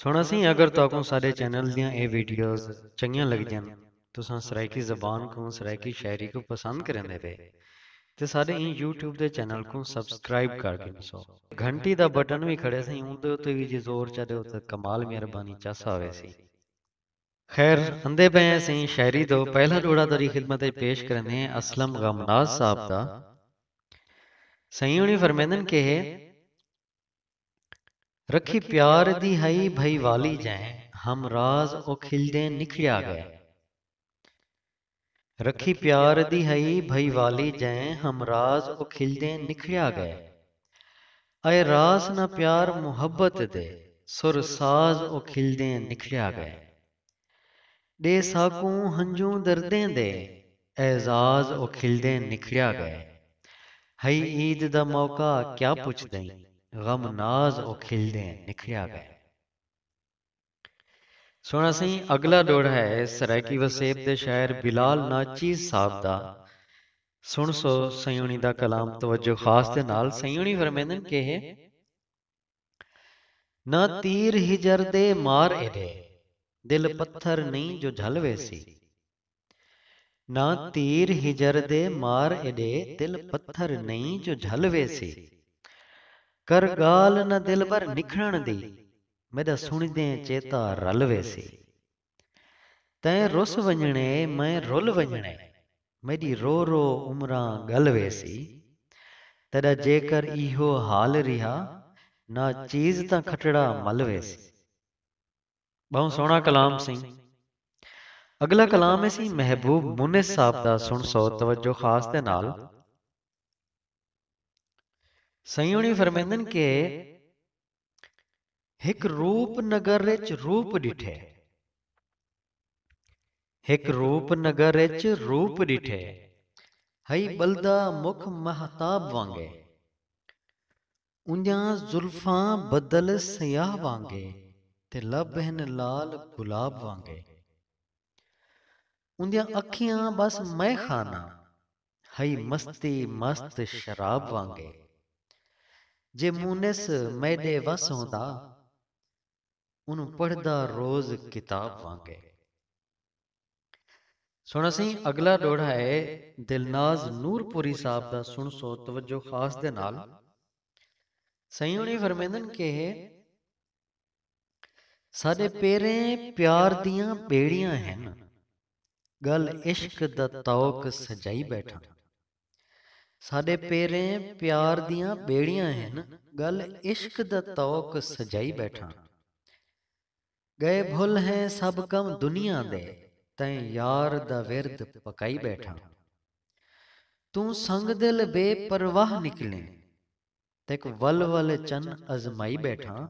سنڑاسیں اگر تہاکوں ساڈے چینل دیاں اے ویڈیوز چنگیاں لگدیاں تساں سرائیکی زبان کوں سرائیکی شاعری کوں پسند کریندے پے تے ساڈے ایں یوٹیوب دے چینل کوں سبسکرائب کر گھنسو گھنٹی دا بٹن وی کھڑے سئیں اوندے اتے وی جے زور چا ڈیو تاں کمال مہربانی چاسا ہویسی۔ خیر اندے پئے ہیں سئیں شاعری دا پہلا جوڑا تہاڈی خدمت اچ پیش کریندے ہیں اسلم غمناز صاحب دا سئیں ہنڑی فرمیندن کہے رکھی پیار دی ہئی بھئی والی جئیں ہم راز او کھلدیں نکھڑیا گئے۔ رکھی پیار دی ہئی بھئی والی جئیں ہم راز او کھلدیں نکھڑیا گئے۔ اے راس نہ پیار محبت دے سر ساز او کھلدیں نکھڑیا گئے۔ ݙے ساکوں ہنجوں دردیں دے اعزاز او کھلدیں نکھڑیا ڳئے ہئی عید دا موقع کیا پچھدئیں غم ناز او کھلدیں نکھڑیا ڳئے۔ سوہݨا سئیں اڳلا ݙوہڑا ہے سرائیکی وسیب دے شاعر بلال ناچیز صاحب دا سݨسو سئیوݨی دا کلام توجہ خاص دے نال سئیوݨی فرمیندن کہہ۔ نہ تیر ہجر دے مار ایڈے دل پتھر نئیں جو جھل ویسی۔ نہ تیر ہجر دے مار ایڈے دل پتھر نئیں جو جھل ویسی۔ کر گالھ نہ دلبر نکھڑݨ دی میڈا سݨیدیں چیتا رل ویسی۔ تیں رس ونڄݨے میں رل ونڄݨے میݙی رو رو عمراں ڳل ویسی تیݙا جیکر ایہو حال ریہا ناں چیز تاں کھٹڑا مل ویسی۔ ٻہوں سوہݨا کلام سئیں۔ اڳلا کلام ہے سئیں محبوب مونس صاحب دا سݨسو توجہ خاص دے نال۔ سئیں ہوݨی فرمیندن کہ۔ ہک روپ نگر اچ روپ ݙٹھے ہک روپ نگر اچ روپ ݙٹھے ہئی ٻلدا مکھ مہتاب وانگے اونجھاں زلفاں بدل سیاہ وانگے تے لب ہن لال گلاب وانگے اوندیاں اکھیاں بس مئے خانہ ہئی مستی مست شراب وانگے جے مونس میݙے وس ہوندا اونوں پڑھدا روز کتاب وانگے۔ سݨا سئیں اڳلا ݙوہڑا ہے دلناز نور پوری صاحب دا سݨسو توجہ خاص دے نال سئیں ہوݨی فرمیندن کہ ساڈے پیریں پیار دیاں ٻیڑیاں ہن ڳل عشق دا طوق سجائی ٻیٹھاں ساڈے پیریں پیار دیاں ٻیڑیاں ہن ڳل عشق دا طوق سجائی ٻیٹھاں ڳئے بھل ہیں سب کم دنیا دے تیں یار دا ورد پکائی ٻیٹھاں توں سنگ دل بے پرواہ نکلیں تیک ول ول چن ازمائی ٻیٹھاں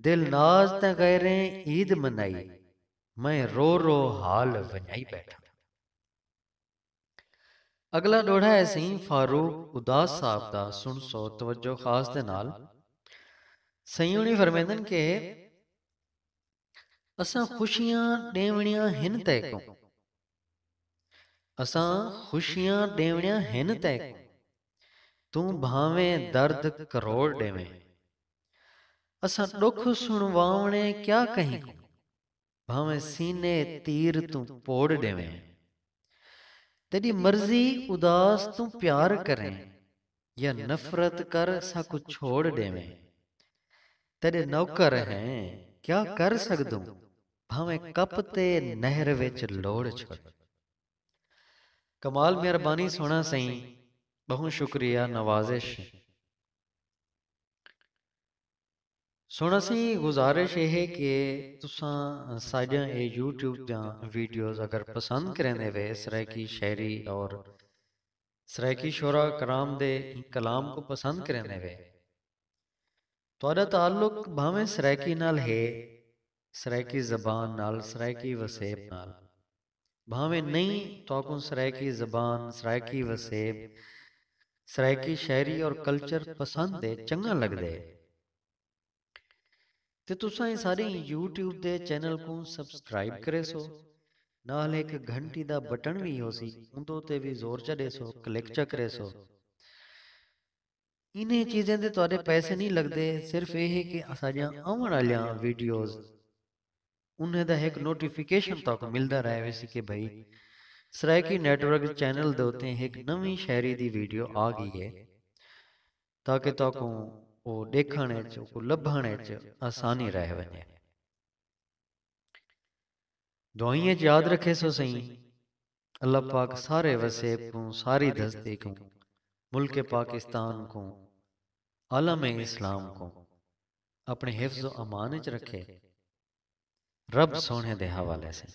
دل ناز تیں غیریں عید منائی میں رو رو حال ونڄائی ٻیٹھاں۔ اڳلا ݙوہڑا ہے سئیں فاروق اداس صاحب دا سݨسو توجہ خاص دے نال سئیں ہوݨی فرمیندن کہ اساں خوشیاں ݙیوݨیاں ہن تیکوں اساں خوشیاں ݙیوݨیاں ہن تیکوں توں بھانویں درد کروڑ ݙیویں اساں ݙکھ سݨواوݨے کیا کہیں کوں بھانویں سینے تیر توں پوڑ ݙیویں تیݙی مرضی اداس توں پیار کریں یا نفرت کر ساکوں چھوڑ ڈیویں تیڈے نوکر ہیں کیا کر سگدوں بھاویں کپ تے نہر وچ لوڑ چھوڑ۔ کمال مہربانی سونا سئیں بہوں شکریہ نوازش۔ سونا سئیں گزارش اے ہے کہ تساں ساڈیاں اے یوٹیوب دیاں ویڈیوز اگر پسند کریندے وے سرائیکی شاعری اور سرائیکی شعراء کرام دے ایں کلام کوں پسند کریندے وے۔ تہاݙا تعلق بھانویں سرائیکی نال ہے، سرائیکی زبان نال، سرائیکی وسیب نال۔ بھانویں نئیں، تہاکوں سرائیکی زبان، سرائیکی وسیب، سرائیکی شاعری اور کلچر پسند ہے، چنڳاں لڳدے۔ تے تساں ایں سارے یوٹیوب دے چینل کوں سبسکرائب کریسو نال ہک گھنٹی دا بٹن وی ہوسی اوندے تے وی زور چا ڈیسو کلک چا کریسو انہاں چیزیں دے تہاڈے پیسے نہیں لگدے صرف اے ہے کہ اساڈیاں آون والیاں ویڈیوز انہاں دا ہک نوٹیفیکیشن تہاکوں ملدا رہے ویسی کہ بھائی سرائیکی نیٹ ورک چینل دے اوتے ہک نویں شاعری دی ویڈیو آ گئی ہے تاکہ تہاکوں او ݙیکھݨ وچ، اوکوں لبھݨ وچ آسانی رہ ونڄے۔ دعائیں وچ یاد رکھیسو سئیں، اللہ پاک سارے وسیب کوں، ساری دھستی کوں، ملک پاکستان کوں، عالم اسلام کوں اپݨے حفظ و امان وچ رکھے۔ رب سوہݨے دے حوالے سئیں۔